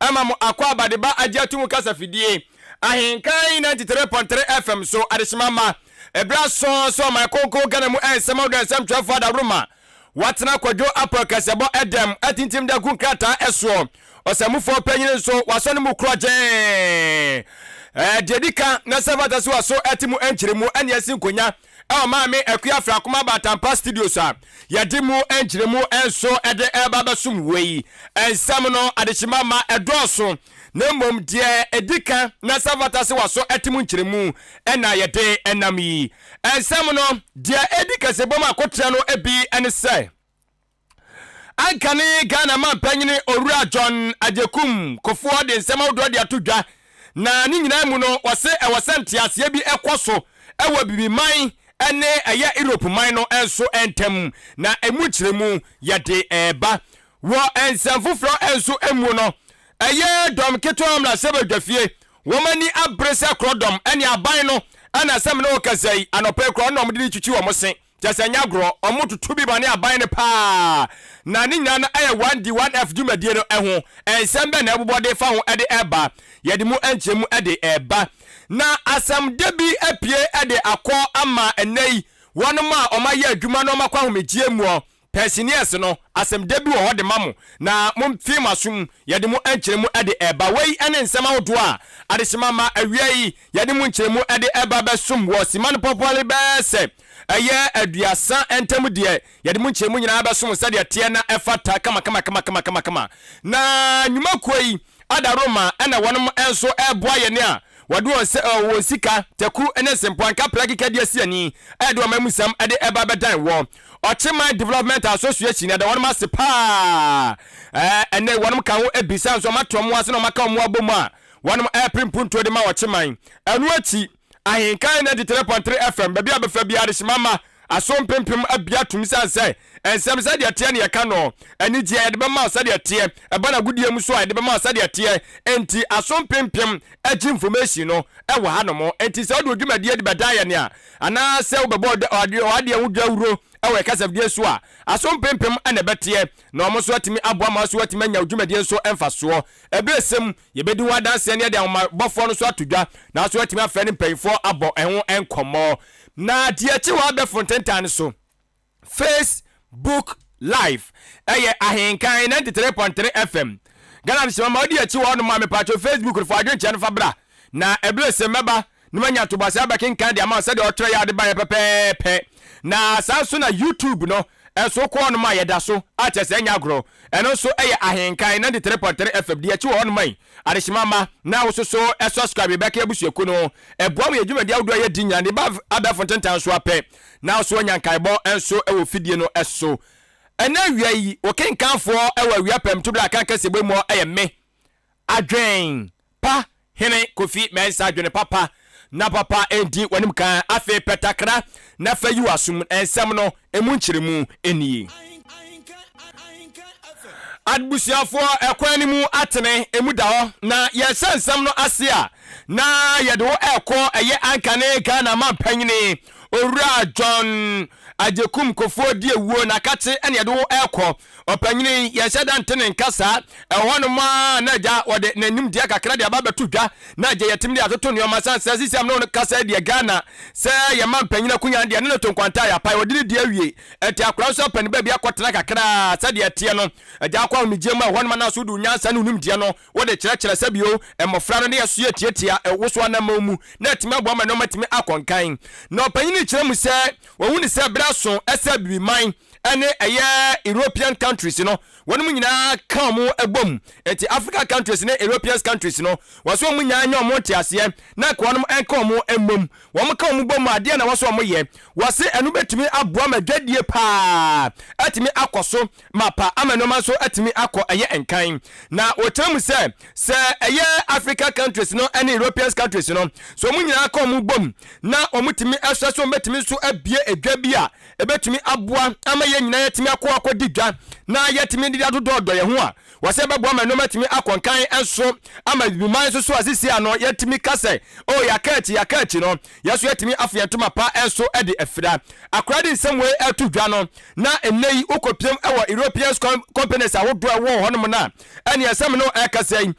ama mo akwaabade ba agye ato mu kasafidie ahenka yi 93.3 FM so adehyema ma ɛberɛ aso so ɔman kronkron Ghana mu ɛnsɛm ahodoɔ ɛnsɛm twerɛfoɔ adaworoma watena kwadwo apɔ kɛsɛbɔ ɛdɛm atintim da gu nkrataa ɛsoɔ ɔsɛmufoɔ panyini nso wasɔ ne mu korɔgyee deɛ di ka na sɛ fata so waso ɛte mu ɛnkyerɛ mu ɛne ɛsi nkonya ɛwɔ maame Akua Afrakoma Abatampa Studios a yɛde mu nkyerɛmu nso de ɛreba abɛsom wei. Nsɛm no adehyema ma ɛdɔɔso na mmom deɛ ɛdi kan na sɛ fata sɛ waso ɛte mu nkyerɛmu na yɛde nam yi. Nsɛm no deɛ ɛdi kɛsebɔ mu akotrɛ no bi ne sɛ. Anka ne Ghana mampanyini Owura John Agyekum Kofoɔ de nsɛm ahodoɔ de ato dwa, na ne nyinaa mu no wɔse ɛwɔ sɛ nteaseɛ bi kɔ so wɔ Abibiman ne ɛyɛ Europe man no nso ntam, na ɛmu nkyerɛmu yɛde reba. Wɔ nsɛm foforɔ nso mu no, ɛyɛ Dɔm Ketewa Mmarahyɛbadwafie, wɔn ani abere sɛ korɔdɔm ne aban no na sɛ me ne wo kasa yi, anɔpa yi koraa wɔn na wɔde retwitwi wɔn se. Kyerɛ sɛ ɛnyɛ agorɔ, wɔtoto bi ma ne aban no paa. Na ne nyinaa no yɛ 1D, 1F dwumadie no ho. Nsɛm bɛn na ɛbobɔ de fa ho de reba? Yɛde mu nkyerɛmu de reba. Na asɛm da bi apue de akɔ ama ɛnnɛ yi wɔnom a wɔayɛ adwuma na wɔakɔ ahomegyeɛ muɔ. Persineus no, asɛmdɛ bi wɔ hɔ de ma mo, na momfee mo aso mu, yɛde mo nkyerɛmu de reba. Wei ne nsɛm ahodoɔ a adehyema ma awia yi yɛde mo nkyerɛmu de reba bɛsom wɔ Simma no pɔpɔle bɛyɛ sɛ ɛyɛ aduasa ntam deɛ yɛde mo nkyerɛmu nyinaa bɛsom sɛdeɛ teɛ na ɛfata kamakamakamakama. Na nnwuma kuo yi ada Roma ɛna wɔnom nso reboa yɛn a wɔde wɔn sɛ wɔn sika, taku ne sempoanka pla kika di asiani ɛde wɔn amusam de reba bɛdan wɔ Ɔkyeman Development Association yɛda wɔnom ase paa ɛɛ ɛnɛ yi wɔnom ka ho ebisa nso wɔn ato wɔn ase na wɔn aka wɔn abom a wɔnom ɛɛpere mpuntuo de ma ɔkyeman ɛno akyi Ahenkan ninety three point three FM baabi a bɛfa biara adehyema ma aso mpempem abia tum san sɛ nsɛm sɛdeɛ teɛ ne yɛka nɔɔ anigyeɛ yɛde bɛma wo sɛdeɛ teɛ ɛba n'agodie mu so a yɛde bɛma wo sɛdeɛ teɛ enti aso mpempem agye information no ɛwɔ ha nom enti sɛ wode odwumadie de bɛdan yɛne a Anaasɛ wobɛbɔ w'adeɛ ho dawuro wɔ kasafidie so a, aso mpempem na ɛbɛteɛ, na wɔn nso atumi aboa ma wo nso woatumi anya wo dwumadie nso mfasoɔ. Ɛberɛsɛ mu, yɛbɛdi ho adanseɛ na yɛde ahomabɔfoɔ no nso ato dwa, nanso woatumi afrɛ ne mpanimfoɔ abɔ ho nkɔmmɔ. Na deɛ ɛkye hɔ abɛfo ntentan no so. Face book live ɛyɛ ahenkan ninety three point three fm ghana mi sima ma ɔdi akyi wɔ ɔnom a mepatwo facebook no fo adwene kyɛ no fa bra na ɛbile se mɛba na manya ntoboase abɛkenkan de ama sɛdeɛ ɔtrɛ yɛ ade ba yɛ pɛpɛɛpɛ na saa nso na youtube no ɛnso wokɔ ɔnom a yɛda so a kyɛ sɛ ɛnyɛ agorɔ ɛno nso ɛyɛ ahenkan ninety three point three fm di akyi wɔ ɔnom ayi adehyema ma na wososo ɛsubscribe bɛka abusuaku no ɛboa mu yɛ dwumadi ahodoɔ yɛ di nyina ne ba abɛfo ntentan so apɛ Nanso ɔnya nkaebɔ nso wɔ fidie no so. Ɛnɛ awia yi, wo kenkanfoɔ wɔ awia pɛm to berɛ a kan kaseɛbɔ mu hɔ yɛ me, Adwen pa Hene Kofi Mensah Adwene papa na papa ɛndi w'anim kan. Afei pɛ takra na fa yi w'asom. Nsɛm no ɛmu nkyerɛmu nie. Adbusuafoɔ, ɛkwan no mu atene, ɛmu da hɔ. Na yɛrehyɛ nsɛm no ase a, na yɛde wo ɛkɔ ɛyɛ anka ne Ghana mampanyini owura John Agyekum Kofoɔ Diawuo na kakye ɛne yɛde wo ɛkɔ ɔpanyini yɛnhyɛ da nte ne nka saa ɛhɔ nom a na agya wɔde n'animdeɛ kakra de aba bɛto dwa na agya yɛtumi de atoto nneɛma san sɛ sisi amene no kasa deɛ Ghana sɛ yɛ mampanyini akonya deɛ ne ne to nkwanta yɛ apae wɔde ne deɛ awie ɛnti akora nso apɛ ne baabi akɔtena kakra sɛdeɛ ɛteɛ no agya akɔ ahomegyeɛ mu ɛhɔ nom anaso de nyansa ne onimdeɛ no Wode kyerɛkyerɛ sɛbio mmofra no de ɛsoɛ tiatia woso anamɔn mu na atumi aboa ma nnoɔma atumi akɔ nkan. Na ɔpanyin no kyerɛ mu sɛ wahu no sɛ bere aso sɛ Abibiman ne ɛyɛ European countries no wɔnom nyinaa ka ɔmo bom nti Africa countries ne Europeans countries no wɔsɛ ɔmo nyaa nya ɔmo nteaseɛ na nka wɔnom nka ɔmo mmom wɔn ka ɔmo bom a deɛ na wɔsɛ ɔmo yɛ wɔse ɛno bɛtumi aboa ma dwadie paa atumi akɔ so mapa ama nnoɔma nso atumi akɔ ɛyɛ nkan na wɔkyerɛ mu sɛ sɛ ɛyɛ Africa countries no ne Europeans countries no so wɔn nyinaa kɔ wɔn bom na wɔn tumi ɛsɛ so wɔn bɛtumi nso abie edwa bi a ɛbɛtumi aboa ama yɛn nyinaa yɛtumi akɔ akɔ di dwa na yɛtumi de adodɔɔdɔ yɛn ho a wɔsɛ bɛboa ma nnoɔma tumi akɔ nkan nso ama bibiman nso so a sisi a no yɛtumi ka sɛ o oh, yɛaka akyi yɛaka akyi no Yɛn nso yɛatumi afa yɛn ntoma pa so de afira. Akora de nsɛm wei reto dwa no, na nnɛ yi wokɔpiam wɔ European companies ahodoɔ a ɛwɔ hɔnom no a, ɛne ɛsɛ me ne ɛrekasa yi,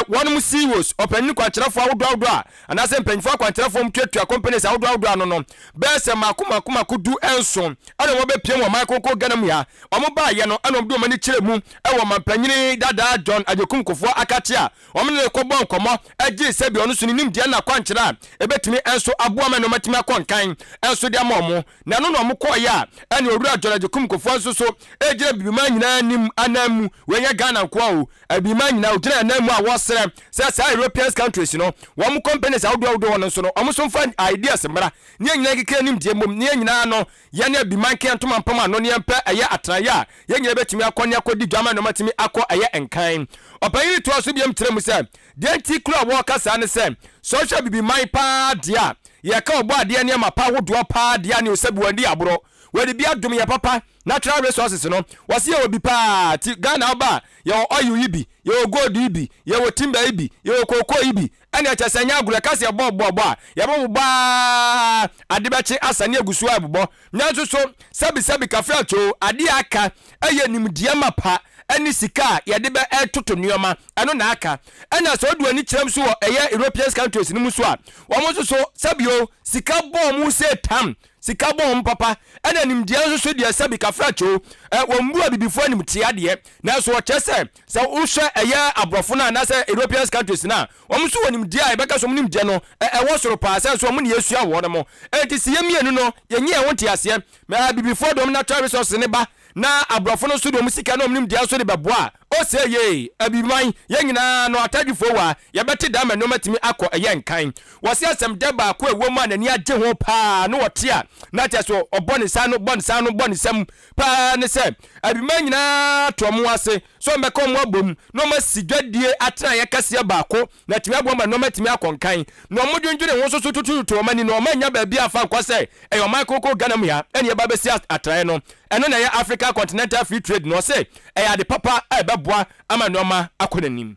wɔnom CEOs, ɔpanyin kwankyerɛfoɔ ahodoɔ ahodoɔ a, anaasɛ mpanimfoɔ akwankyerɛfoɔ mu tuatua companies ahodoɔ ahodoɔ ano no, bɛyɛ sɛ mako mako mako du nson ɛna wɔn bɛpiam wɔ man konko Ghana mu ha. Wɔn baayɛ no ɛna wɔn de wɔn ani kyerɛ mu wɔ manpanyini dadaa John Agyekum Kufuor Akakye a Wɔne no kɔbɔɔ nkɔmmɔ gye sɛ bi ɔno nso ne nimdeɛ ne n'akwankyerɛ a ɛbɛtumi nso aboa ma ne ɔmatumi akɔ nkan nso de ama wɔn. Na ɛno na wɔkɔeɛ a ɛne Owura John Agyekum Kofoa nso so gyina Abibiman nyinaa anim anan mu. Wei nyɛ Ghana nko ara o, Abibiman nyinaa wɔgyina yɛn anan mu a wɔsrɛ sɛ saa Europeans countries no, wɔn companies ahodoɔ ahodoɔ no nso no wɔn nso mfa ideas mmra ne yɛn nyinaa nkeka yɛn nimdeɛ mmom ne yɛn nyinaa ano Yɛne Abimanke ntoma mpam ano ne yɛmpɛ ɛyɛ atenaeɛ a yɛn nyinaa bɛtumi akɔ ne akɔdi dwa ama nnoɔmatumi akɔ ɛyɛ nkan. Ɔpanyin no toaa so biom kyerɛɛ mu sɛ, Deɛ nti koraa a wɔreka saa ne sɛ, sɛ wohwɛ Abibiman pa ara deɛ a, yɛreka ɔbɔ adeɛ nneɛma pa ahodoɔ pa ara deɛ a ne ɔsɛ Buandi Aborɔ. Wadi bi adom yɛn papa, Natural Resources no, wɔse yɛwɔ bi pa ara, nti Ghana woba a, yɛwɔ oil yi bi, yɛwɔ gold yi bi, yɛwɔ timber yi bi, yɛwɔ cocoa yi bi, ɛne ɛkyɛ sɛ ɛnyɛ agorɔ ɛka sɛ yɛbɔ ɔbɔ bɔ a yɛbɛwo baa ade bɛkye asa ne agu so a ɛbobɔ nanso so sɛbi sɛbi kafra kyoo adeɛ a aka ɛyɛ nimdeɛ mapa ɛne sika a yɛde bɛ ɛtoto nneɛma ɛno na aka ɛna sɛ ɔdu ani kyerɛm so wɔ ɛyɛ European countries no mu so a wɔn nso so sɛbi o sika bɔ wɔn sɛ tam sika bɔ wɔn papa ɛna nimdeɛ nso so deɛ sɛbi kafra kyoo ɛ wɔn bu abibifoɔ anim te adeɛ nanso ɔkyɛ sɛ Sɛ wohwɛ ɛyɛ aborɔfo no anaasɛ Europeans countries no a, wɔn nso wɔ nimdeɛ a yɛbɛka sɛ wɔn nimdeɛ no ɛwɔ soro paa sɛn nso wɔn na yɛsua wɔ hɔnom. Enti sɛ yɛn mmienu no yɛnyɛ yɛn ho nteaseɛ, abibifoɔ de wɔn natural resources no ba na aborɔfo no nso de wɔn sika ne wɔn nimdeɛ nso de bɛboa a, o sɛ yei abibiman, yɛn nyinaa no atadwifoɔ wɔ ha, yɛbɛte dɛm ma nnoɔma atumi akɔ ɛyɛ nkan. Wɔse asɛmdɛ baako a ɛwɔ mu a n'ani agye ho paa no ɔte a na kyerɛ sɛ ɔbɔ ne nsa ano, bɔ ne nsa ano, bɔ ne nsam paa ne sɛ abarimaa nyinaa to wɔn ase sɛ wɔbɛka wɔn abom na wɔasi dwadie atenaeɛ kɛseɛ baako na atumi aboa ma nneɛma atumi akɔ nkan na wɔdwendwene ho nso so tutuutu wɔn ani no wɔannya baabi amfa nkɔ sɛ ɛyɛ ɔman kronkron Ghana mu ha na yɛba bɛsi atenaeɛ no ɛno na ɛyɛ Africa Continental Free Trade no ɔse ɛyɛ ade papa a ɛbɛboa ama nneɛma akɔ n'anim.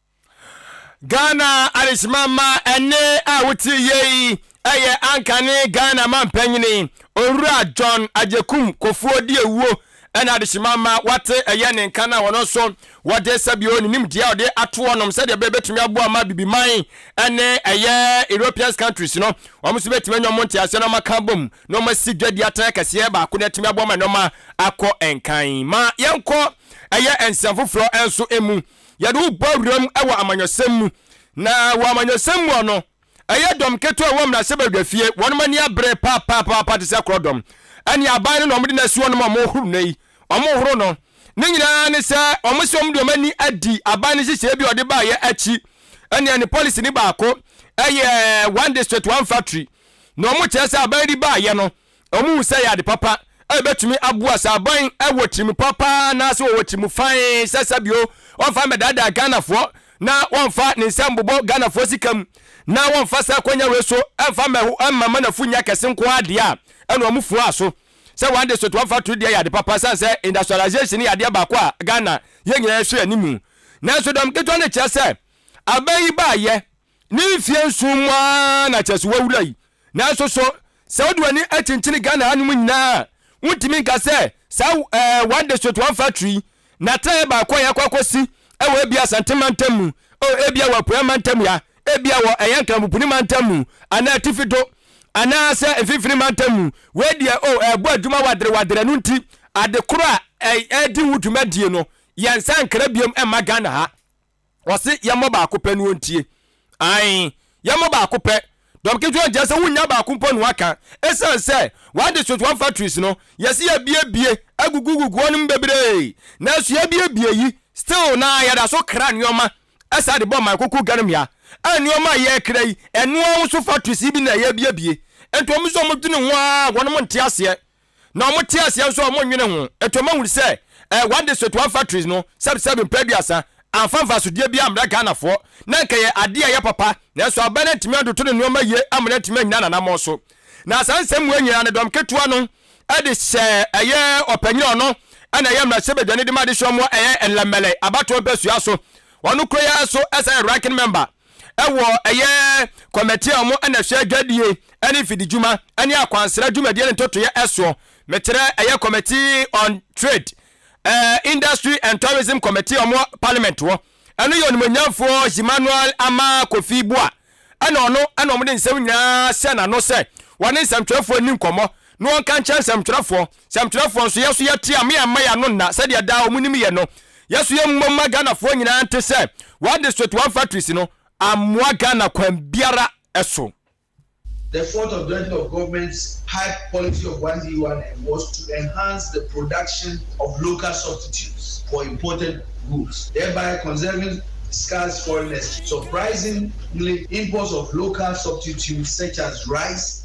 Ghana adehyemamma ɛnne a wotie yie yi yɛ ankane Ghana mampanyini Owura John Agyekum Kofuo di awuo ɛna adehyemamma wate ɛyɛ ne nka no a wɔno nso wɔde sɛbio ne nimdeɛ a wɔde ato wɔnom sɛdeɛ bɛyɛ bɛtumi aboa ma bibiman ɛne ɛyɛ European countries no wɔn nso bɛtumi anya wɔn nteaseɛ na wɔn aka bom na wɔn asi dwadi atena kɛseɛ baako na atumi aboa ma nneɛma akɔ nkan ma yɛnkɔ ɛyɛ nsɛm foforɔ nso emu yɛde wo bɔ awuram wɔ amanyɔsɛm mu. Na wɔ amanyɔsɛm mu ɔ no, ɛyɛ dɔm ketewa a ɛwɔ mmarahyɛbadwafie, wɔnom ani abere paapaapa te sɛ korɔdɔm, ɛne aban no na wɔde no asi hɔ no ma wɔhoro no yi, wɔhoro no. Ne nyinaa ne sɛ wɔn sɛ wɔde wɔn ani adi aban no nhyehyɛeɛ bi a ɔde baeɛ akyi, ɛne ne policy no baako yɛ one district, one factory, na wɔkyerɛ sɛ aban yi de baeɛ no, Wɔhu sɛ ɛyɛ ade papa a ebetumi aboa sɛ aban wɔ tirim papa anaasɛ wɔwɔ tirim fann sɛ sɛ bio wɔmfa mmɛdaadaa Ghanafoɔ na wɔmfa ne nsa mmobɔ Ghanafoɔ sika mu na wɔmfa saa akwannya wei so mfa mmɛho mma manafo nnya kɛse nko ara deɛ a ɛna wɔn fuaa so sɛ one district one factory deɛ yɛ ade papa sane sɛ industrialization yɛ adeɛ baako a Ghana yɛn nyinaa yɛhwɛ anim nanso dɔm ketewa no kyerɛ sɛ aban yi baayɛ Ne mfeɛ nson mu ara na kyerɛ sɛ wawura yi. Nanso so sɛ wode w'ani kyenkyene Ghana hanom nyinaa a, wontumi nka sɛ saa eh, one district one factory yi, n'atenaeɛ baako a yɛakɔ akɔsi wɔ ebia Asante mantam mu, oh, ebia wɔ Apueɛ mantam ya, ebia wɔ ɛyɛ Nkramopuni mantam mu, anaa Atifi do, anaasɛ Mfimfini mantam mu. Wei deɛ, oh, ɛrebɔ adwuma waderewadere, ɛno nti ade koro a ɛredi ho dwumadie no, yɛn nsa nkra biom mma Ghana ha. Ɔse yɛmmɔ baako pɛ no ɔntie ae yɛmmɔ baako pɛ dɔm ketewa nti ɛsɛ wonya baako mpo na waka ɛsiane sɛ wɔn district wɔn factories no yɛse yɛbiebie agugugugu wɔnom bebree nanso yɛbiebie yi still na yɛda so kra nneɛma ɛsaa de bɔ man koko ganom ya a nneɛma a yɛkra yi ɛnoa wo so factories yi bi na yɛbiebie nti wɔn nso wɔn dwene ho a wɔnom nte aseɛ na ɔmo te aseɛ nso a ɔmo nnwene ho. Ɛti ɔmo ahunu sɛ ɛɛ one district one factories no sɛbi sɛbi mpɛ aduasa amfa mfasodeɛ biaa mmrɛ Ghanafoɔ na nka ɛyɛ adeɛ a ɛyɛ papa nanso aban no antumi antoto ne nnoɔma yie ama no antumi annyina n'anammɔn so na saa nsɛm wei nyinaa no dɔm ketewa no ɛde hyɛɛ ɛyɛ ɔpanyin a ɔno ɛna ɛyɛ mmarahyɛbadwani de ma adehyeɛ mu ɛyɛ Nlɛmɛlɛ abatoɔ mpɛsua so ɔno kura yi ara so ɛsan yɛ ranking member wɔ ɛyɛ kɔmɛti a wɔn na hwɛ dwadie ne mfididwuma ne akwansra dwumadie ne ntotoeɛ ɛsoɔ. Mekyerɛ ɛyɛ kɔmɛti on trade, eh, industry and tourism committee wɔn parliament hɔ. Ɛno yɛ onimonyamfoɔ Emmanuel Ama Kofi Boa ɛna ɔno ɛna wɔn de nsɛm nyinaa hyɛ n'ano sɛ wɔne nsɛmtwerɛfoɔ nni nkɔmmɔ na wɔnka nkyerɛ nsɛmtwerɛfoɔ Sɛmtwerɛfoɔ nso, yɛn nso yɛteam, me amma yɛn ano nna, sɛdeɛ daa wɔn nim yɛ no. Yɛn nso yɛn mmom ma Ghanafoɔ nyinaa nte sɛ, wɔn district, wɔn factories no ammoa Ghana kwan biara so. The fourth objective of government's hype policy of one day one air was to enhance the production of local substitutes for imported goods, thereby conserving scarce foreign exchange. Surprisingly, imports of local substitutes such as rice,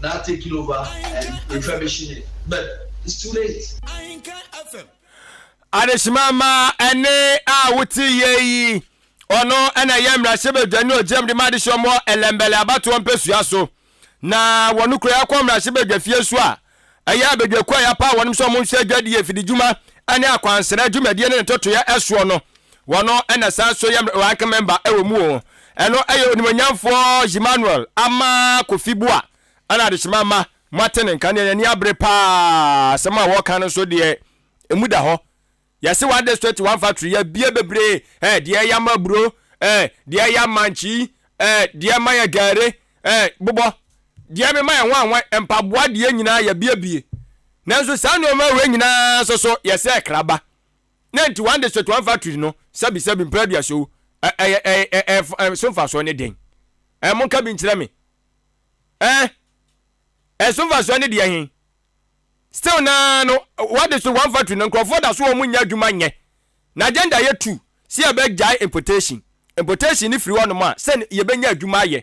now taking over and refurbishing it but it's too late. adesima ma ɛne a wote yie yi ɔno ɛna ɛyɛ mmarahyɛ badwa ne ɔgyinam de ma adehyeɛ mɔ ɛlɛmbɛlɛ abatoɔ mpɛsua so na wɔn kura yɛakɔ mmarahyɛ badwa fie so a ɛyɛ abadwakuo a yɛapa wɔnom sɛ wɔn nhwɛ adwadie fididwuma ne akwansra dwumadie ne ne tɔtoyɛ ɛsoɔ no Wɔno na saa nso yɛ rank member wɔ mu o. Ɛno yɛ onimuonyamfoɔ Zhimanuel Ama Kofi Bua ɛna adehyema Ama moate ne nka neɛ n'ani abere paa asɛm a wɔka no nso deɛ ɛmu da hɔ yɛse one district one factory yɛbie bebree eh deɛ ɛyɛ ama aburo eh deɛ ɛyɛ ama nkyi eh deɛ ɛma yɛ gare eh bobɔ deɛ mema yɛ nwanwan mpaboa deɛ nyinaa yɛbiebie nanso saa nneɛma wei nyinaa nso so yɛsɛ kraba Na nti wɔn de Sichuan factory no sɛbisɛbi mpɛn aduasa o, ɛ, ɛyɛ, ɛ, ɛ, ɛ, ɛ, so mfasoɔ ne dɛn? Ɛ, monka bi nkyerɛ me. Ɛ, ɛ, so mfasoɔ ne deɛ he? Still naa no, wɔde so wɔn factory no, nkurɔfoɔ da so wɔn nyɛ adwuma nyɛ. Na agenda yɛ two, sɛ yɛbɛgyae importation. Importation ne firi hɔnom a, sɛ yɛbɛnya adwuma ayɛ.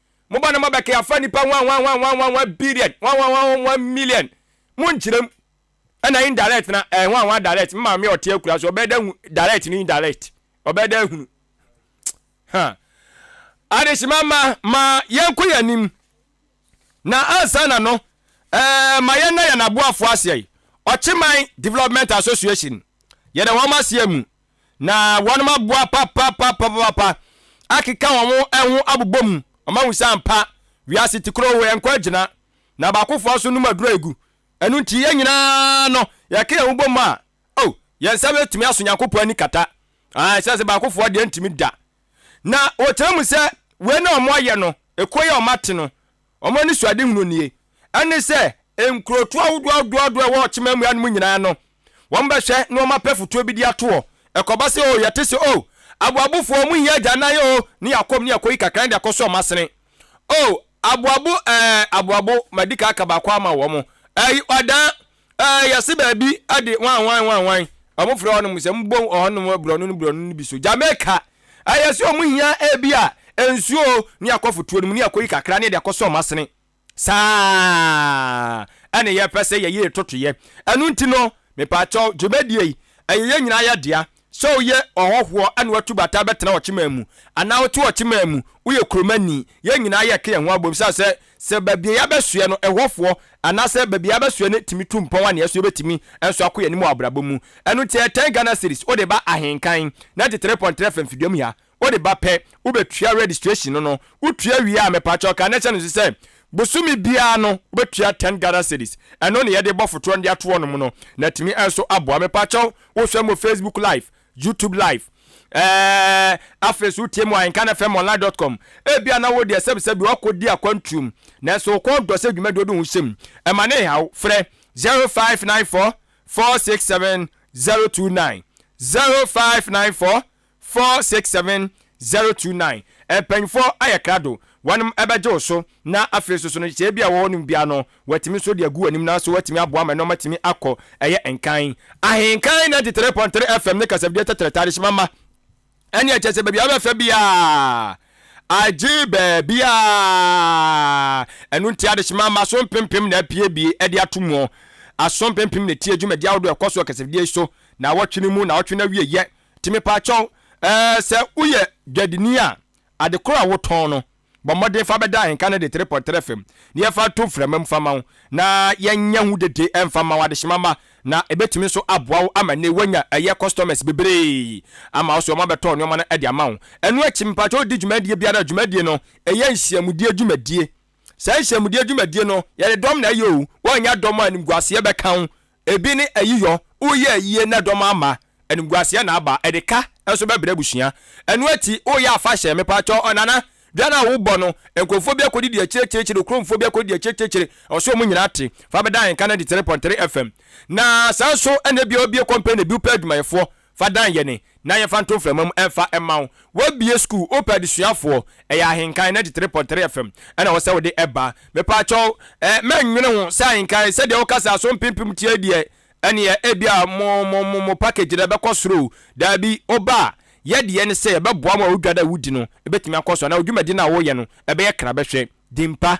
Mo ba no ma bɛke afa nipa ho anhwanhwanhwanhwanhwa billion hwanhwanhwanhwanhwa million mo nkyerɛ mu ɛna indirect na ɛhwanhwa direct me maame ɔte akura so ɔbɛyɛ dɛ hu direct ne indirect ɔbɛyɛ dɛ hunu ha adehyema ma ma yɛnkɔ yɛn anim na ansa na no ɛɛ ma yɛn na yɛn aboafoɔ aseɛ ɔkyeman development association yɛda wɔn aseɛ mu Na wɔnom aboa papapapapapa akeka wɔn ho ɛho abobɔ mu, wɔn ahu sɛ ampa, wiase te koro hɔ, yɛnkɔ agyina, na baakofoɔ nso nom aduro agu. Ɛno nti yɛn nyinaa no, yɛka yɛn ho bɔ mu a, oh, yɛn nsa bɛtumi aso Nyankopɔn ani kata. Ah, ɛsɛ sɛ baakofoɔ deɛ ntumi da. Na wɔkyerɛ mu sɛ, wei na wɔn ayɛ no, ɛkuo yɛ wɔn ate no, Wɔn anisoadehunu nie, ɛne sɛ nkurotoɔ ahodoɔ ahodoɔ ahodoɔ a ɛwɔ ɔkyema mmura no mu nyinaa no, wɔbɛhwɛ na wɔapɛ fotoɔ bi de ato hɔ. Ɛkɔba sɛ, oo, yɛte sɛ, oo, aboabofoɔ, wɔhia agyanan oo, ne yɛakɔm ne yɛakɔyi kakra de akɔsɔ wɔn asene. Oo, aboabo, ɛɛ, aboabo, madi kan aka baako ama wɔn. Ɛyi, ɔdan, Ɛɛ, yɛse baabi de wanwan wanwan. Ɔmo frɛ hɔnom sɛ mbom ɔhɔnom brɔno no brɔno no bi so. Jamaica, ɛɛ yɛse ɔmo hia ebi a nsuo o, ne yɛakɔ fotuo no mu ne yɛakɔyi kakra ne yɛde akɔsɔ ɔmo asene. Saa ne yɛpɛ sɛ yɛyɛ yetotoyɛ. Ɛno nti no, mepaakyɛw, dwumadie yi, ɛyɛ yɛn nyinaa yɛ dea. Sɛ woyɛ ɔhɔhoɔ na watu bata abɛtena ɔkyemaa mu anaa wote ɔkyemaa mu, woyɛ kuromani, yɛn nyinaa yɛka yɛn ho abom sane sɛ, sɛ baabi a yɛabɛsoɛ no ɛhɔfoɔ anaasɛ baabi a yɛabɛsoɛ no tumi tu mpɔn a, neɛso yɛbɛtumi nso akɔ yɛn anim wɔ abrabɔ mu. Ɛno nti, ɛtɛn Ghana cedis wode ba ahenkan, 93 pɔn trɛ fam fiduam ha. Wode ba pɛ wobɛtua registration no no, wotua wie a mepaakyɛw ka na ɛhyɛ no nso sɛ bosome biara no wobɛtua ten Ghana cedis, ɛno ne yɛde bɔ fotorɔ no de ato wɔnom no na atumi nso aboa. Mepaakyɛw wohwɛ mo Facebook live, YouTube live eh, afei nso wotie mo Ahenkan FM online dot com, ebi a na wo deɛ sɛbi sɛbi wakɔ di akwantuom nanso wokɔ dɔ sɛ dwumadie wode ho hyɛ mu, ɛma ne haw, frɛ 0594 467 029, 0594 Four six seven zero two nine Mpanyinfoɔ ayɛ krado, wɔnom bɛgye wo so, na afei nso so no sɛ ebi a wɔwɔ nom biara no wɔatumi nso de agu w'anim nanso wɔatumi aboa ma nnoɔma atumi akɔ ɛyɛ nkan. Ahenkan ninety three point three FM ne kasafidie tɛtrɛtɛ adehyema mma ɛne ɛkyɛ sɛ baabi a wobɛfa biara agye baabiara ɛno nti adehyema mma so mpempem na apiebie ɛde ato muɔ aso mpempem na ɛtie dwumadi ahodoɔ ɛkɔ so wɔ kasafidie yi so na awɔtwe no mu na awɔtwe no awieyɛ Nti mepaakyɛw, eh, sɛ woyɛ dwadini a, ade koro a wotɔn no, bɔ mmɔden fa bɛda ahenka no de tere pɔtere fam na yɛfa nto mframa mu mfa mma wo, na yɛnyɛ ho dede mfa mma wo adehyema mma, na ebetumi nso aboa wo ama nnɛ woanya ɛyɛ customers bebree ama wo, so wɔabɛtɔ nneɛma no de ama wo. Ɛno akyi, mepaakyɛw di dwumadie biara a, dwumadie no, ɛyɛ nhyiamudie dwumadie, saa nhyiamudie dwumadie no, yɛde dɔm na ɛyɛ o, woannya dɔm a animguaseɛ bɛka wo, Ebi ne ayiyɔ, woyɛ ayie na dɔm ama, animguaseɛ na aba, ɛde ka nso bɛbrɛ abusua. Ɛno akyi woyɛ afahyɛ, mepakyɛw ɔnana, dwa no a wobɔ no, nkurɔfoɔ bi akɔdidi akyiriakyiriakyiri, okuromfoɔ bi akɔdidi akyiriakyiriakyiri, ɔse wɔn nyinaa te, fa bɛda Ahemka 93.3 FM. Na saa nso na ebia wobue kɔmpani, ebi wopɛ adwumayɛfoɔ, Fa dan yɛne na yɛmfa nto mframa mu ɛmfa mma wo. Wabue school, wopɛ adesuafoɔ, ɛyɛ ahenkan 93.3 FM ɛna ɛwɔ sɛ wode ɛba. Mepaakyɛw eh, mɛnnwene ho sɛ ahenkan, sɛdeɛ wo kasa so mpempem teɛ deɛ, ɛneɛ ebia mo mo mo mo package no ɛbɛkɔ soro o. Daabi, woba a, yɛ deɛ ne sɛ yɛbɛboa mo a wo dwa no a wodi no ɛbɛtumi akɔ so anaa wo dwumadi no a woyɛ no ɛbɛyɛ kra bɛhwɛ. Dimpa.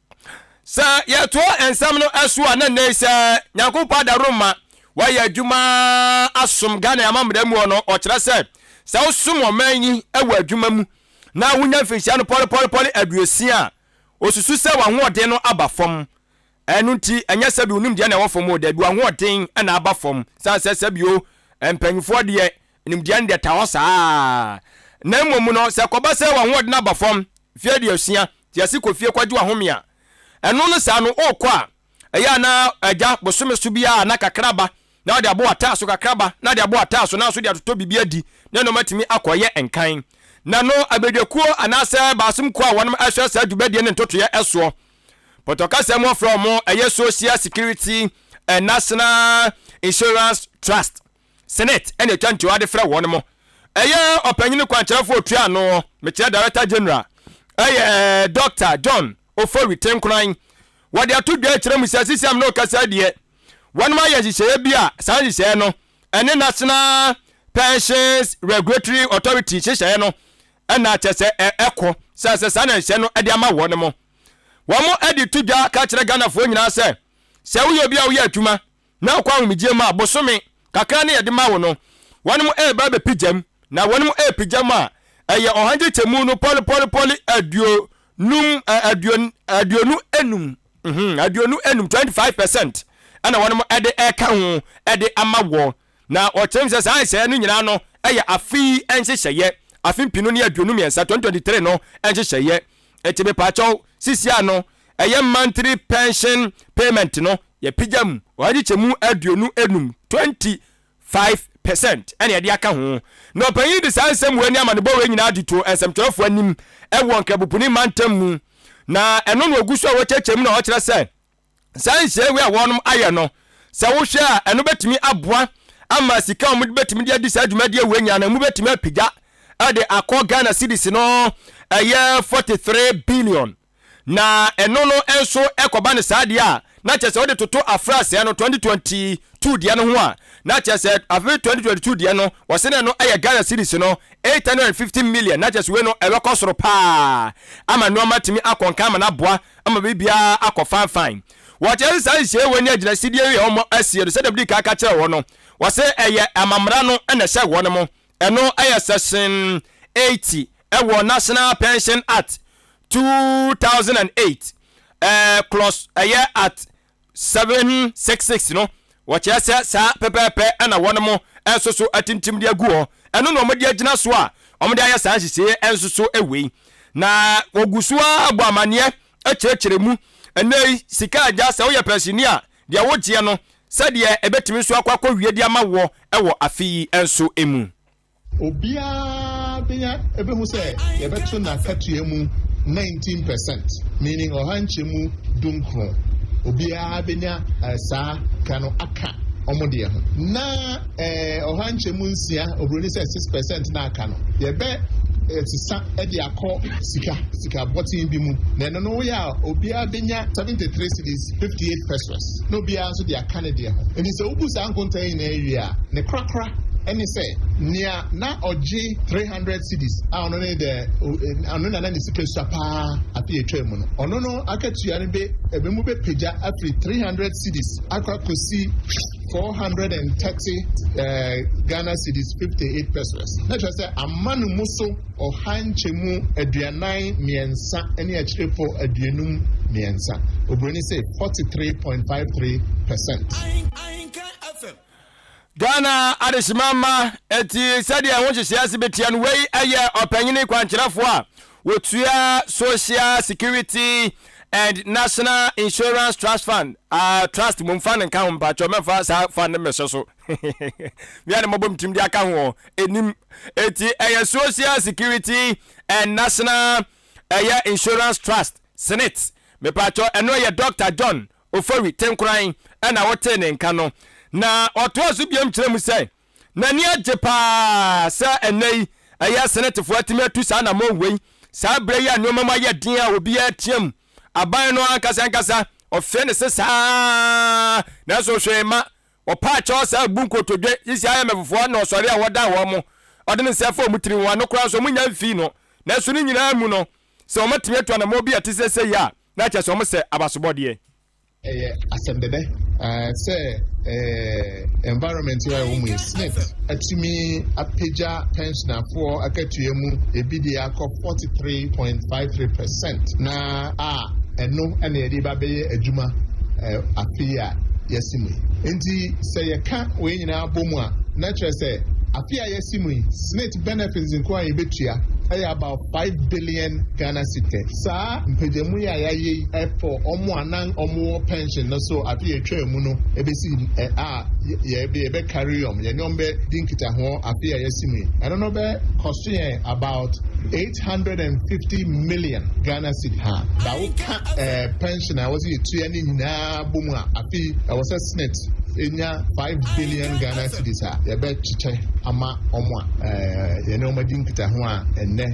Sɛ yɛtoa nsɛm no so a, na nnɛ yi sɛ Nyankopɔn adaworo ma wɔayɛ adwuma asom Ghana amammerɛ mu no, ɔkyerɛ sɛ sɛ wosom ɔman yi wɔ adwuma mu na wonya mfinhyia no pɔlepɔlepɔle aduosia a, osusu sɛ w'ahoɔden no aba fam. Ɛno nti, ɛnyɛ sɛ bi wonim deɛ na ɛwɔ fam o, dabi w'ahoɔden na aba fam. San sɛ sɛ bio mpanyinfoɔ deɛ Nimdeɛ no deɛ ɛtaa hɔ saa ara. Na mmom no, sɛ ɛkɔba sɛ w'ahoɔden aba fam mfe aduosia, te ase kɔ fie kɔgye w'ahome a, ɛno ne saa no, worekɔ a, ɛyɛ a na agya bosome so biara na kakra ba na wode abɔ w'ataaso, kakra ba na wode abɔ w'ataaso, na nso de atotɔ biribi adi, ne nnoɔma atumi akɔ reyɛ nkan. Na no abadwakuo anaasɛ baasom kuo a wɔnom ɛhwɛ saa dwumadie ne ntotoeɛ ɛsoɔ, Pɔtɔ kasa mu wɔfrɛ wɔn ɛyɛ Social Security and National Insurance Trust. Senate na etwa ntoa de frɛ wɔn mo. Ɛyɛ ɔpanyin kwankyerɛfo a otua ano, mekyerɛ Director General, yɛ Dɔkta John Ofori Tenkoran. Wɔde ato dwa akyerɛ mu sɛ CCM no rekasa yi deɛ, wɔnom ayɛ nhyehyɛeɛ bi a saa nhyehyɛeɛ no ɛne National Pensions Regulatory Authority nhyehyɛeɛ no na kyɛ sɛ ɛko sɛ ɛsɛ saa na nhyehyɛeɛ no de ama wɔnom. Wɔn de to dwa ka kyerɛ Ghanafoɔ nyinaa sɛ, sɛ woyɛ obi a woyɛ adwuma Na ɔkɔ ahomegyeɛ mu a, bosome kakra ne yɛde ma wo no, wɔnom reba abɛpigyam, na wɔnom repigyam a, ɛyɛ ɔhankyekyɛmu no pɔlepɔlepɔle aduo num, ɛ, aduo, aduonu enum, mhm, aduonu enum, twenty five percent, ɛna wɔnom de reka ho de ama wɔ. Na wɔkyerɛ mu sɛ saa nhyehyɛeɛ no nyinaa no yɛ afe yi nhyehyɛeɛ, afe mpinu ne aduonu mmiɛnsa, twenty twenty three no nhyehyɛeɛ, Enti mepaakyɛw, sisi ano, ɛyɛ monthly pension payment no, yɛapegya mu ɔhade kyɛmu aduonu enum, twenty five percent, na yɛde aka ho. Na ɔpanyin yi de saa nsɛm wei ne amanebɔ wei nyinaa de too nsɛmtwerɛfoɔ anim wɔ Nkrabopuni mantam mu, na ɛno na wɔgu so a wɔkyerɛkyerɛ mu na wɔkyerɛ sɛ, saa nhyiae wei a wɔnom ayɛ no sɛ wohwɛ a ɛno bɛtumi aboa ama sika wɔn bɛtumi de adi saa dwumadie wei nyinaa no mu bɛtumi apagya ɛde akɔ ghana cedis no ɛyɛ 43 billion na ɛno no nso ɛkɔba no saa deɛ a na kyerɛ sɛ wode toto afrasɛɛ no 2022 deɛ no ho a na kyerɛ sɛ afe 2022 deɛ no wɔse no ɛno ɛyɛ ghana cedis no 850 million na kyerɛ sɛ wei no ɛbɛkɔ soro paa ama nneɛma tumi akɔnka ama no aboa ama biribiara akɔ fanfann. Wɔkyerɛ sɛ saa nhyiam wɔ ne agyinasidie yi a wɔn asie no, sɛdeɛ medi kan ka kyerɛ wɔn no, wɔse ɛyɛ amammerɛ no na ɛhyɛ wɔn mu. Ɛno yɛ section eighty wɔ National Pension Act two thousand and eight, ɛɛ clause ɛyɛ at 766 no, wɔkyerɛ sɛ saa pɛpɛɛpɛ na wɔnom nso so atintim de agu hɔ. Ɛno na wɔde agyina so a wɔde ayɛ saa nhyehyɛeɛ nso so wei. Na wɔgu so ara bɔ amanneɛ kyerɛkyerɛ mu. Ɛnnɛ yi, sika agya, sɛ woyɛ pɛnsini a, deɛ wogyeɛ no, sɛdeɛ ɛbɛtumi nso akɔ akɔwie de ama woɔ wɔ afe yi nso mu. Obiara benya ebehu sɛ yɛbɛto n'akatua mu nineteen percent, meaning ɔha nkyɛmu dunkron. Obiara benya eh, saa ka no aka wɔn deɛ ho. Na eh, ɔha nkyɛmu nsia, oburoni sɛ six percent na aka no, yɛbɛ eh, sisa de akɔ sika, sika bɔten bi mu. Na ɛno no woyɛ a, obiara benya seventy three cedis, fifty eight pesos. Na obiara nso de aka ne deɛ ho. Enti sɛ wobu saa nkontaa nyinaa wie a, ne korakora Ɛne sɛ, nea na ɔgye three hundred cedis a ɔno ne the ɔno na na ne sika sua paa afe a etwaa mu no, ɔno no akatua no be ebe mu bepagya afiri three hundred cedis akɔ akɔsi four hundred and thirty Ghana cedis fifty eight pesewas. Na kyerɛ sɛ ama no mu so ɔha nkyɛmu aduanan mmiɛnsa ne akyirefo aduonum mmiɛnsa. Oburoni se forty three point five three percent. Ghana adehyema mma ɛti sɛdeɛ ɛho nhyehyɛ ase bɛtia no wei ɛyɛ ɔpanyini kwankyerɛfoɔ a wɔtua social security and national insurance trust fund uh, trust mom fa no nka ho mpakyɛ mɛmfa saa fa no mmɛhyɛ so mea ne mɔbɔ mtim de aka ho ɛnim ɛti ɛyɛ social security and national ɛyɛ insurance trust senate mepakyɛ ɛno ɛyɛ dr john Ofori tenkoran na wɔtee ne nka no, na ɔtoaa so biom kyerɛɛ mu sɛ n'ani agye paa sɛ ɛnnɛ yi ɛyɛ Senetfoɔ atumi atu saa anamɔn wei saa berɛ yi a nnoɔma mu ayɛ den a obiara reteam aban no ankasa ankasa. Ɔfee ne se saa ara nanso hwee mma. Ɔpaa kyɛw san abu nkotodwe sisi IMFfoɔ na ɔsɔre a wɔdan wɔn mo. Ɔde ne nsa fa wɔn tiri ho, ano koraa nso wɔnnya mfii no. Nanso ne nyinaa mu no, Sɛ wɔatumi atu anammɔn bi a ɛte sɛ sɛyi a, na kyerɛ sɛ wɔsɛ abasobɔdeɛ. Ɛyɛ asɛm dɛdɛ sɛ environment a ɛwɔ mu yi, Smith atumi apagya pɛnhyenafoɔ akatua mu ebi deɛ akɔ 43.53 percent, na a ɛno na yɛde ba bɛyɛ adwuma afe yi a yɛasi mu yi. Enti sɛ yɛka wei nyinaa bɔ mu a, na kyerɛ sɛ afe a yɛasi mu yi, Smith benefits nko a yɛbɛtua yɛ about. Five billion Ghana citi, saa mpagyamu yi a yɛayɛ yi fɔ wɔn a na wɔwɔ pension no so afe a etwaa mu no besi a yɛbɛ carry wɔn, yɛne wɔn bɛ di nkitaho afe a yɛasi mu yi. Ɛno no bɛ cost yɛn about eight hundred and fifty million Ghana citi, ha, da wo ka eh, pension a wɔsi yɛtua no nyinaa. abɔ mu a, afei ɛwɔ sɛ Senate nya five billion Ghana cedis a yɛbɛkyekyɛ ama wɔn a yɛne wɔn adi nkitaho a ɛnnɛ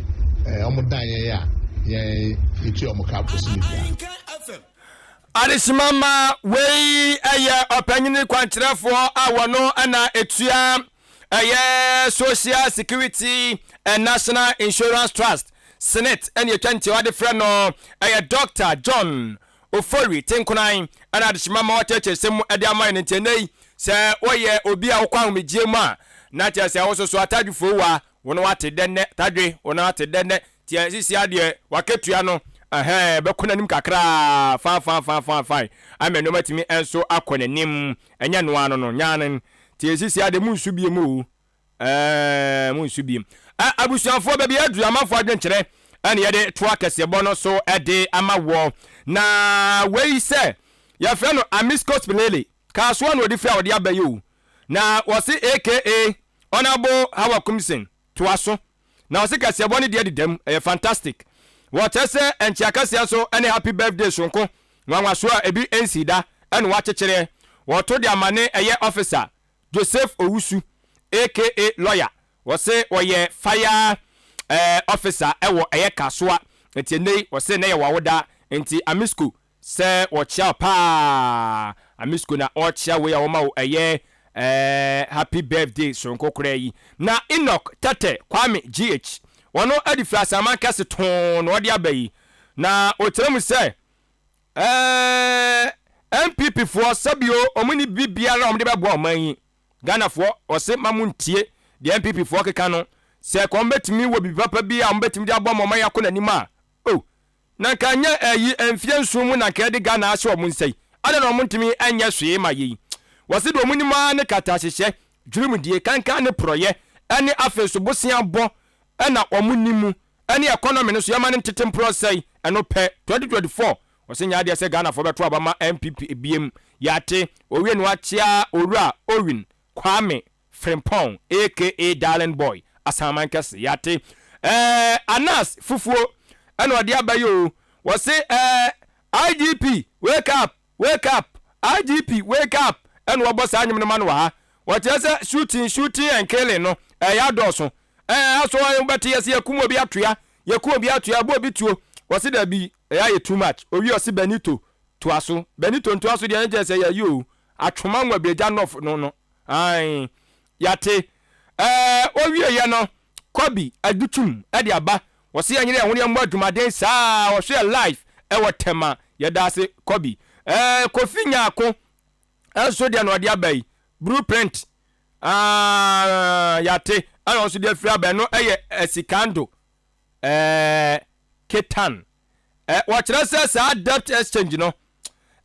wɔn dan yɛn a yɛtua wɔn ka bosome biara. Adesimama wei ɛyɛ ɔpanyini kwankyerɛfoɔ a wɔno ɛna etua ɛyɛ Social Security and National Insurance Trust Senate ɛna etwa ntiawa de frɛ no ɛyɛ Dr. John Ofori, te nkonan, ɛna adehyema ma wɔakyerɛkyerɛ nsɛm mu de ama yɛn. Enti ɛnnɛ yi, sɛ woyɛ obi a wokɔ ahomegyeɛ mu a, na kyerɛ sɛ wososo atadwe foowa, wo ne wate dɛ nnɛ, tadwe, wo ne wate dɛ nnɛ. Nti ɛ, sisi ara deɛ, w'akatua no, ɛhɛɛ, bɛkɔ n'anim kakra ara, faa, faa, faa, faa, fae, ama nnoɔma atumi nso akɔ n'anim. Ɛnyɛ ɛno ara no no, nyan. Nti sisi ara deɛ, monsu bio o, Eeeii monsu biem. Ɛ abusuafoɔ baabi a aduru amanfoɔ adwenkyerɛ ɛna yɛde to akɛseɛbɔ no so de ama woɔ. Na wei sɛ yɛfrɛ no Amisco Spilele, Kasoa na ɔde firi a wɔde aba yi o. Na wɔse aka Honourable Haw Akumsen toa so. Na wɔse kaseɛbɔ no deɛ deda mu, ɛyɛ fantastic. Wɔkyerɛ sɛ nkyea kaseɛ nso ne happy birthday soronko, nwanwasoɔ a ebi nsii da, ɛna wɔakyekyereɛ. Wɔto de ama ne ɛyɛ officer Joseph Owusu aka Lawyer, wɔse ɔyɛ fire eh, officer wɔ ɛyɛ Kasoa, nti ɛnɛ yi wɔse na yɛ wawoda, nti Amisco sɛ wɔkyea wo paa, Amisco na ɔkyea wei a wɔma wo ɛyɛ eh, happy birthday soronko koraa yi. Na Enoch Tɛtɛ Kwame GH, ɔno ɛde firi Asaman kɛse too na ɔde aba yi, na ɔkyerɛ mu sɛ, Eeii NPP foɔ sɛbi o ɔmo nni biribiara a ɔmo de bɛboa ɔman yi. Ghana foɔ ɔse ma mo ntie deɛ NPP foɔ keka no, sɛ ɛka ɔmo bɛtumi wɔ biribi papa bi a ɔmo bɛtumi de aboa ma ɔman yi akɔ n'anim a oh na nka nyɛ ɛyi mfie nson mu na nka yɛde Ghana ahyɛ ɔmo nsa yi, adɛn na ɔmo ntumi nyɛ hwee ma yei. Wɔse deɛ ɔmo nim ara ne katahyehyɛ, dwirimdie, kankan ne porɔyɛ ɛne afei nso bosea bɔ ɛna ɔmo nim. ɛne economy no so yɛma no ntete mporɔ sɛe ɛno pɛ 2024 ɔse nyɛ adeɛ sɛ Ghanafoɔ bɛto aba ma NPP biem yɛate owie no akyea owura Owin Kwame Frimpong aka Darling Boy Asanman kɛse yɛate ɛɛ Anas fufuo ɛna ɔde aba yi oo wɔse ɛɛ IGP wake up wake up IGP wake up ɛna wɔbɔ saa nwom no ma no wɔ ha wɔkyerɛ sɛ shooting shooting and killing no ɛyɛ adɔɔso Ɛɛ aso wo bɛte yɛse yɛkum obi atua yɛkum obi atua bɔ obi tuo wɔse dabi ɛyɛ ayɛ too much owie ɔse Benito toaso Benito ntoaso deɛ ne kyerɛ sɛ yɛayɛ oo atwoma nwa bi agya nɔf no no ae yɛate ɛɛ owie yɛ no Kobi adutum ɛde aba wɔse yɛnyere yɛho ne yɛmmɔ adwumaden saa wɔhwe yɛ live ɛwɔ Tema yɛdaase Kobi ɛɛ Kofi Nyarko nso deɛ na ɔde aba yi Blueprint Aah yate ɛna ɔnso deɛ firi aba ɛno ɛyɛ asikando ɛɛ ketan ɛɛ wɔkyerɛ sɛ saa debt exchange no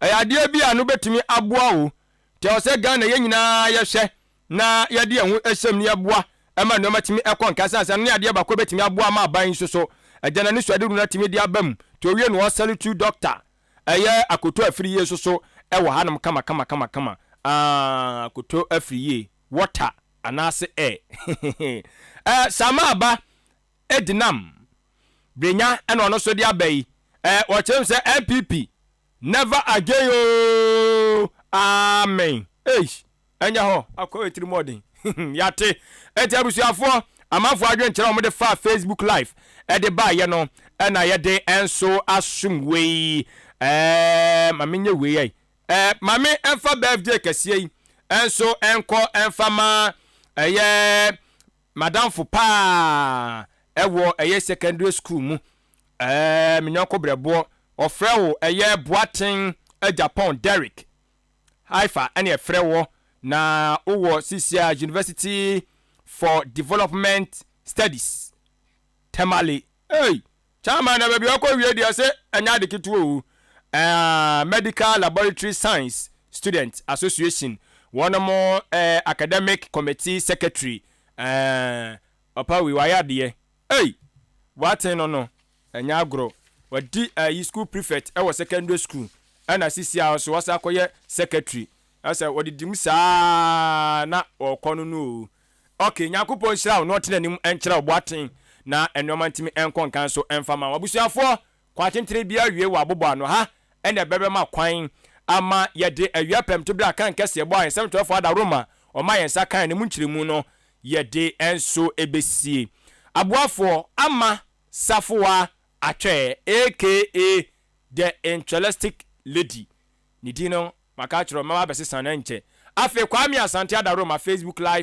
ɛyɛ adeɛ bi a no bɛtumi aboa wo nti ɛwɔ sɛ Ghana yɛn nyinaa yɛhwɛ na yɛde yɛn ho ɛhyɛm ne yɛboa ɛma nneɛma tumi ɛkɔ nka sane sɛ ɛno ne adeɛ baako bɛtumi aboa ama aban nso so ɛgya no anisoadehunu no atumi de aba mu nti owie no ɔsɛle tu doctor Ɛyɛ akoto afiri yie nso so wɔ hanom kamakamakama aah akoto afiri yie water anaase air hehe eh Sama aba ɛdi nam brenya ɛna ɔno nso de aba yi eh wɔkyerɛ mu sɛ NPP never again oo amen eish. Ɛnyɛ hɔ akɔ atirimɔden. Yɛate. Enti abusuafoɔ, amanfoɔ adwene kyerɛ a wɔde faa Facebook live de baeɛ no na yɛde nso asom wei. Ɛɛɛɛɛɛ ma menyɛ wei ai. Ɛɛ ma me mfa birthday kɛseɛ yi nso nkɔ mfa ma ɛyɛ m'adamfo paa ɛwɔ ɛyɛ secondary school mu ɛɛɛɛɛ me yɔnko brɛboɔ. Wɔfrɛ wo ɛyɛ Boateng Agyapong Derrick. Haifa ɛne ɛfrɛ wɔ na wo wɔ Sisia University for Development Studies Tamale. Ei! Chairman na baabi a ɔkɔ wie deɛ se ɛnyɛ ade ketewa o. Ɛɛ Medical Laboratory Science Student Association wɔn mo ɛɛ Academic Committee Secretary ɛɛ ɔpa wei wayɛ adeɛ ei! W'aten no no. Ɛnyɛ agorɔ, wadi ayi school prefect wɔ secondary school ɛna sisi a nso wasan akɔyɛ secretary ɛsɛ wɔdidi mu saa na ɔkɔ no no oo ok Nyankopɔn nhyira wo na ɔtene anim nkyerɛ wo boaten na nnoɔma ntumi nkɔ nkan so mfa ma wo abusuafoɔ kwa tentene biara awie wɔ abobɔ ano ha ɛna ɛbɛbɛma kwan ama yɛde awia pɛmto bere a kan kɛseɛ ɛbɔ a nsɛm twerɛfoɔ ada Roma ɔma yɛn nsa kan no mu nkyerɛmu no yɛde nso ɛbɛsie aboafoɔ ama Safoa Atwɛɛ aka The Intralistic Lady, ne din no maka akyerɛ wo, mɛba abɛsesa no ɛnkyɛ. Afei Kwame Asante Adaworoma Facebook Live.